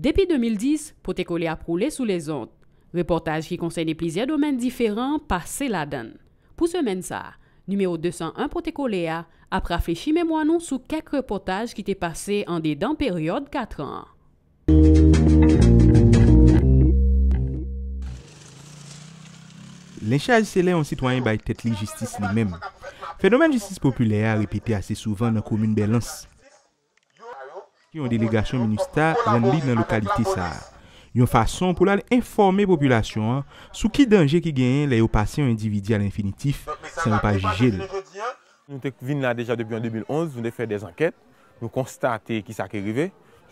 Depi 2010, Pote Kole ap woule sou lezon. Repòtaj ki konsène plizyè domèn diferan pase ladan l. Pou semèn sa a, nimewo 201 Pote Kole a ap rafrechi memwa nou sou kèk repòtaj ki te pase andedan peryòd katran an. Lenchaj se lè yon sitwayen bay tèt li jistis li menm. Fenomèn jistis popilè a repete ase souvan nan komin Bèlans. Yon delegasyon minustah rann li nan lokalite sa a, yon fason pou l al enfòme popilasyon an sou ki danje ki genyen lè yo pase yon endividi a lenfinitif san yo pa jije l. Nou te vin la deja depi an 2011, nou te fè dè ankèt, nou konstate ki sa ki rive.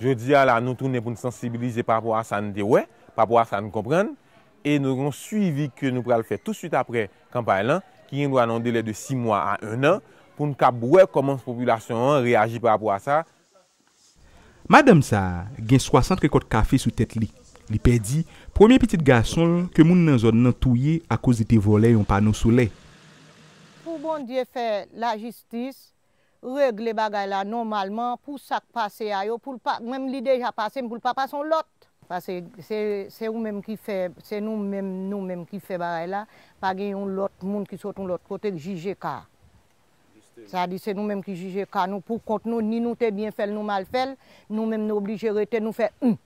Jodi a la nou tounen pou n sansibilize pa rapò a sa n te wè, pa rapò a sa n konprann e nou gen yon swivi ke nou pral fè touswit apre kanpay lan ki gen dwa nan yon delè de 6 mwa a 1 an pou n kab wè kòman popilasyon an reyaji pa rapò a sa. Madanm sa a gen 60 rekòt kafe sou tèt li. Li pèdi premye pitit gason l ke moun nan zòn nan touye akoz li te vòlè yon pano solè. Pou Bondye fè la jistis regle bagay la nòmalman pou sak pase a yo poul pa menm li deja pase m poul pa pase yon lòt. Pase se se ou menm ki fè se nou menm nou menm ki fè bagay la pa gen yon lòt moun ki sot yon lòt kote k jije ka Sa di se nou menm ki jije ka nou pou kont nou ni nou te byen fèl nou mal fèl nou menm nou oblije rete nou fè humm.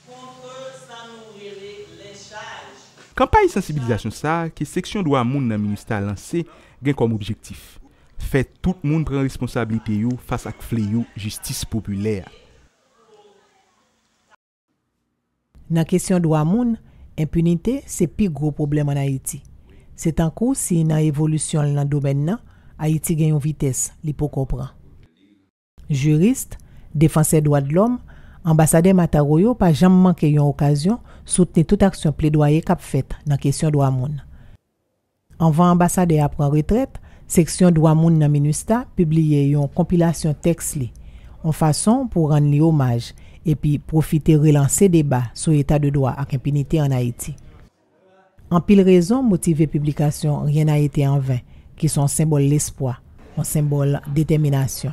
Kontre sa nou rele lenchaj. Kanpay sansibilizasyon sa ke seksyon dwa moun nan minustah lanse gen kòm objektif, fè tout moun pran responsablite yo fas ak fleyo jistis popilè a. Nan kesyon dwa moun, enpinite se pi gwo pwoblèm an Ayiti. Se tankou si nan evolisyon l nan domèn nan, Ayiti gen yon vitès li poko pran. Jiris, defansè dwadlòm, anbasadè Mataro yo pa janm manke yon okazyon soutni tout aksyon pledwaye k ap fèt nan kesyon dwa moun. Anvan anbasadè a pran retrèt, seksyon dwa moun nan minustah pibliye yon konpilasyon tèks li, on fason pou rann li omaj epi pwofite relanse deba sou eta de dwa ak enpinite an Ayiti. Anpil rezon motive piblikasyon Rien n'a été en vain, ki s on senbòl lespwa, on senbòl detèminasyon.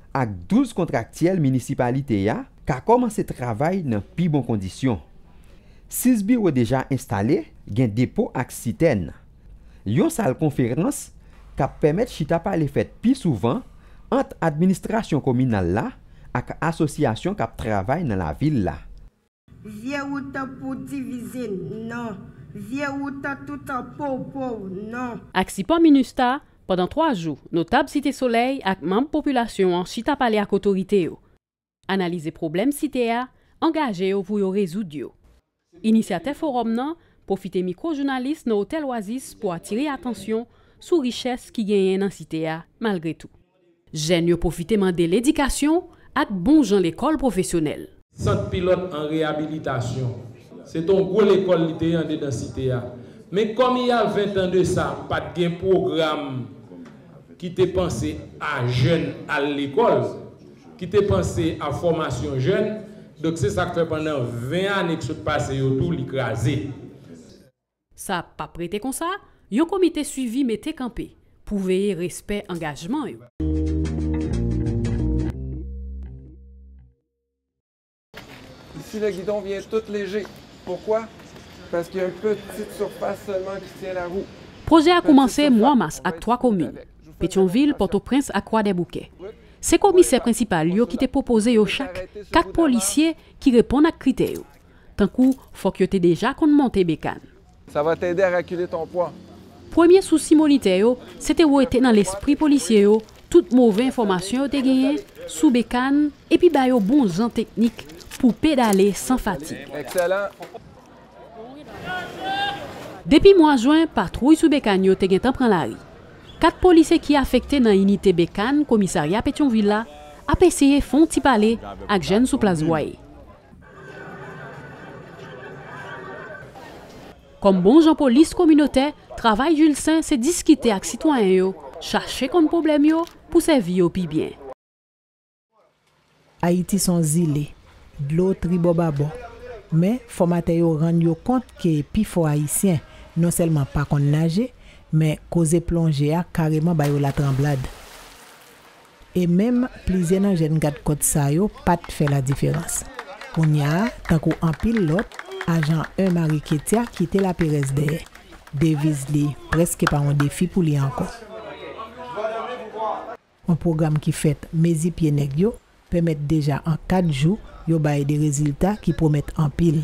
ak 12 kontraktyèl minisipalite a ka kòmanse travay nan pi bon kondisyon. 6 biwo deja enstale, gen depo ak sitèn. Yon sal konferans k ap pèmèt chita pale fèt pi souvan ant administrasyon kominal la ak asosyasyon k ap travay nan lavil la. Vye wout pou divize non. Vye wout toutan pow pow non. Ak sipò Minustah, pandan 3 jou, notab Site Solèy ak manm popilasyon an chita pale ak otorite yo, analize pwoblèm Site a, angaje yo pou yo rezoud yo. Inisyatè fowòm nan pwofite mikwo jounalis nan Otèl Oasis pou atire atansyon sou richès ki genyen nan Site a malgre tou. Jèn yo pwofite mande l edikasyon ak bon jan lekòl pwofesyonèl. Sant pilòt an reyabilitasyon. Se te yon gwo lekòl li te ye andedan Site a. Men kòm i y a ventan de sa, pa t gen pwogram ki te panse a jèn al lekòl, ki te panse a fòmasyon jèn. Donk se sa k fè pandan ven ane k sot pase yo tou li kraze. Sa pap rete konsa, yon komite swivi mete kanpe pou veye respè angajman yo. Si le guidon vient tout lejé pourquoi? Paske yon petite surface seulement ki tient la roue. Pwojè a koumanse mwa mas ak 3 komin, Petyonvil, Pòtoprens ak Kwadèboukè. Se komisè prensipal yo ki te pwopoze yo chak 4 polisye ki reponn ak kritè yo. Tankou fòk yo te deja konn monte bekàn. Sa va t'aider à reculer ton poids. Premye sousi monitè yo, se te wete nan lespri polisye yo tout move enfòmasyon yo te genyen sou bekàn epi ba yo bon jan teknik pou pedale san fatig. Excellent! Depi mwa jwen, patwouy sou bekàn yo te gentan pran lari. Kat polisye ki afekte nan inite bekàn komisarya Petyonvil la ap eseye fon ti pale ak jèn sou Plas Bwaye. Kòm bon jan polis kominotè, travay Julsaint se diskite ak sitwayen yo, chache konn pwoblèm yo pou sèvi yo pi byen. Ayiti s on zile, dlo tribòbabò. Men, fòmatè yo rann yo kont ke pi fò Ayisyen non sèlman pa konn naje, men koze plonje a kareman ba yo latranblad. E menm plizyè nan jèn gadkòt sa yo pa t fè ladiferans. Kounya a, tankou anpil lòt, ajan 1 Mari Ketya kite laperèz dèyè. Deviz li prèske pa yon defi pou li ankò. Yon pwogram ki fèt mezi pye nèg yo pèmèt deja an 4 jou yo bay de rezilta ki pwomèt anpil.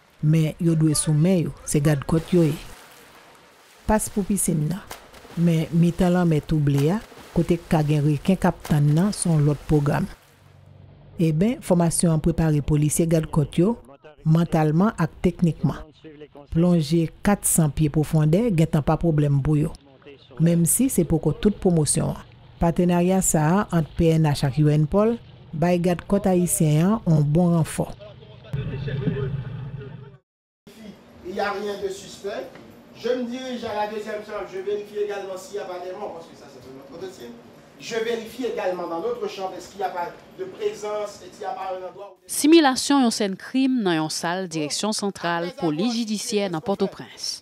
Men yo dwe sou men yo. Se gadkòt yo ye. Pas pou pisin nan. Men mitan lanmè tou ble a, kote k ka gen reken k ap tann nan, s on lòt pwogram. Eben, fòmasyon an prepare polisye gadkòt yo, mantalman ak teknikman. Plonje 400 pye pwofondè gentan pa pwoblèm pou yo. Menmsi se poko tout pwomosyon an, patenarya sa a ant pnh ak UNPOL bay Gad Kòt Ayisyen an on bon ranfò. Similasyon yon sèn krim nan yon sal Direksyon Santral Polis Jidisyè nan Pòtoprens.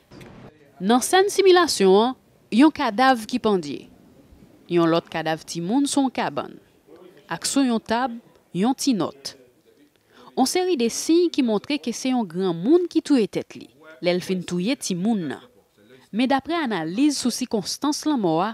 Nan sèn similasyon an, yon kadav ki pandye, yon lòt kadav timoun sou yon kabann, ak sou yon tab yon ti nòt. On seri de siy ki montre ke se yon granmoun ki touye tèt li lè l fin touye timoun nan. Men daprè analiz sou sikonstans lanmò a,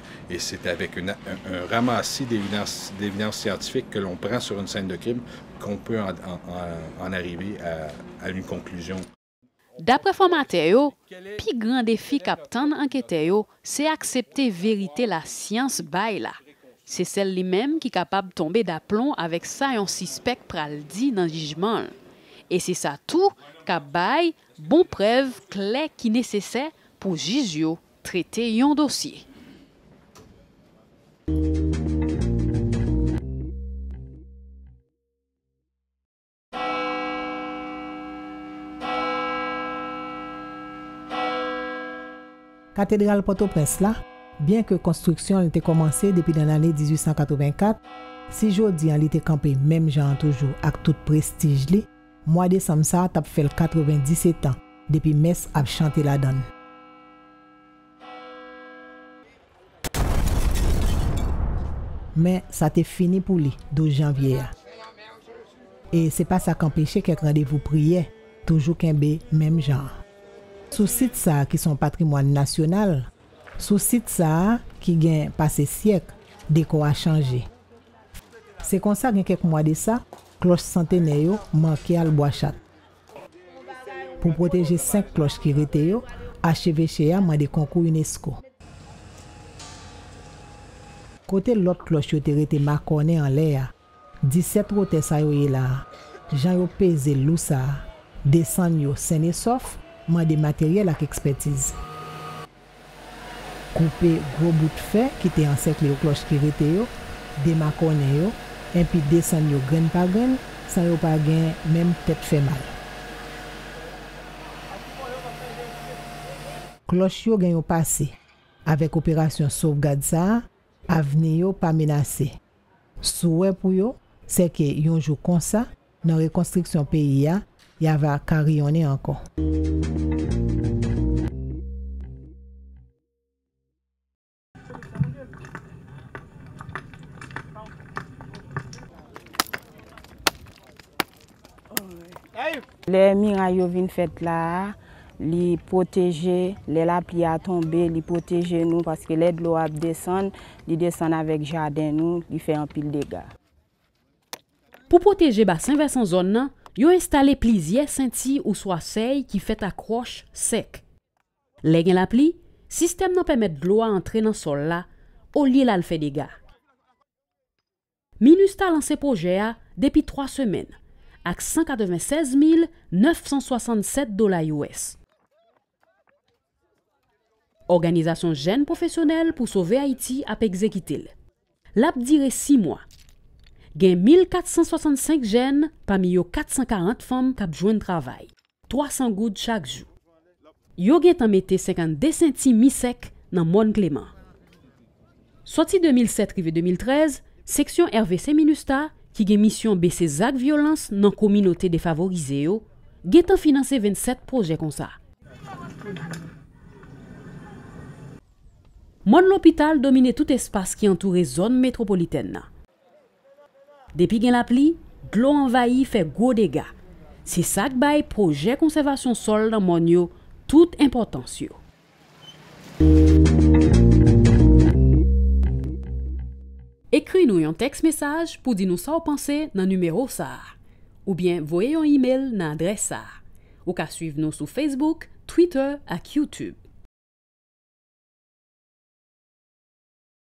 Et c'est avec un ramassis d'évidence scientifique que l'on prend sur une scène de crime qu'on peut en arriver à une conclusion. Daprè fòmatè yo, pi gran defi k ap tann anketè yo se aksepte verite lasyans bay la. Se sèl li menm ki kapab tonbe daplon avèk sa yon sispèk pral di nan jijman l. E se sa tou k ap bay bon prèv klè ki nesesè pou jij yo Trete yon dosye. Katedral Pòtoprens la, byenke konstriksyon l te kòmanse depi nan lane 1884, si jodi an li te kanpe menm jan an toujou ak tout prestij li, Mwa desanm sa t ap fè l 90 etan depi mès ap chante ladan l. Men, sa te fini pou li 12 janvye a. E se pa sa k anpeche kèk randevou priyè toujou kenbe menm jan an. Sou sit sa ki s on patrimwàn nasyonal, sou sit sa ki gen pase syèk, dekò a chanje. Se konsa gen kèk mwa de sa, klòch santenè yo manke al Bwachat. Pou pwoteje 5 klòch ki rete yo, acheveche a mande konkou unesco. Kote lòt klòch yo te rete makònen anlè a? 17 wotè sa yo ye la a, jan yo peze lou sa a, desann yo sennesòf, mande materyèl ak ekspètiz. Koupe gwo bout fè ki te ansèkle yo, klòch ki rete yo, demakònen yo, enpi desann yo grenn pa grenn, san yo pa gen menm tèt fè mal. Klòch yo gen yon pase. Avèk operasyon sovgad sa a, avni yo pa menase. Souwè pou yo, sèke yon jou konsa, Nan rekonstriksyon peyi a, ya va ka riyonnen ankò. Lè miray yo vin fèt la a, li pwoteje, lè lapli a tonbe, li pwoteje nou, paske lè dlo a ap desann, li desann avèk jaden nou, li fè anpil dega. Pou pwoteje basen vèsan zòn nan, yo enstale plizyè senti ouswa sèy ki fèt ak wòch sèk. Lè gen lapli, sistèm nan pèmèt dlo a antre nan sòl la olye l al fè dega. Minustah lanse pwojè a depi 3 semèn ak 196 mil 967 dola us. Òganizasyon jèn pwofesyonèl pou sove Ayiti ap egzekite l. L ap dire si mwa. Gen 1,465 jèn, pami yo 440 fanm k ap jwenn travay, 300 goud chak jou. Yo gentan mete 52 senti mi sèk nan mòn Kleman. Sòti 2007 rive 2013, seksyon RVC Minustah ki gen misyon bese zak vyolans nan kominote defavorize yo, gen tan finanse 27 pwojè konsa. Mòn lopital domine tout espas ki antoure zòn metwopolitèn nan. Depi gen lapli, dlo anvayi fè gwo dega. Se sa k bay pwojè konsèvasyon sòl nan mòn yo tout enpòtans yo. Ekri nou yon tèks mesaj pou di nou sa w panse nan nimewo sa a. Oubyen voye yon imel nan adrès sa a. Ou ka suiv nou sou Facebook, Twitter ak YouTube.